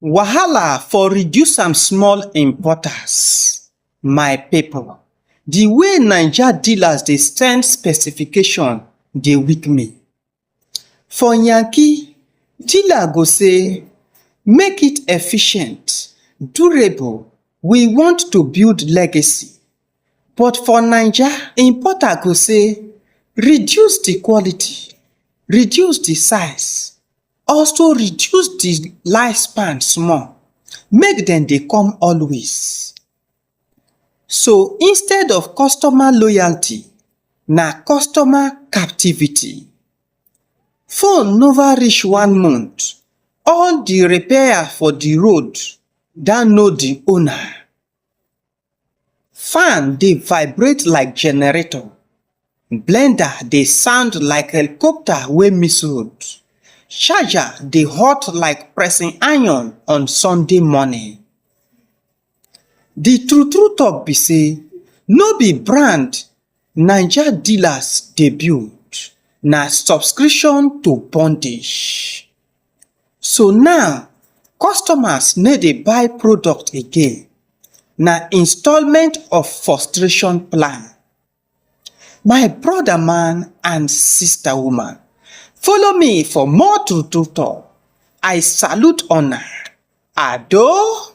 Wahala for reduce am small importers my people the way naija dealers dey send specification dey weak me for yankee dealer go say make it efficient durable we want to build legacy but for naija importer go say reduce the quality reduce the size also reduce the life span small make dem dey come always so instead of customer loyalty na customer captivity phone never reach one month all the repair for the road download the owner Fan dey vibrate like generator, blender dey sound like helicopter wey miss road, charger dey hot like pressing iron on Sunday morning. The true true talk be sey, no be brand. Naija dealers debut na subscription to bondage So now, customers no dey buy product again Na installment of frustration plan My brother man and sister woman Follow me for more true true talk I salute una Ado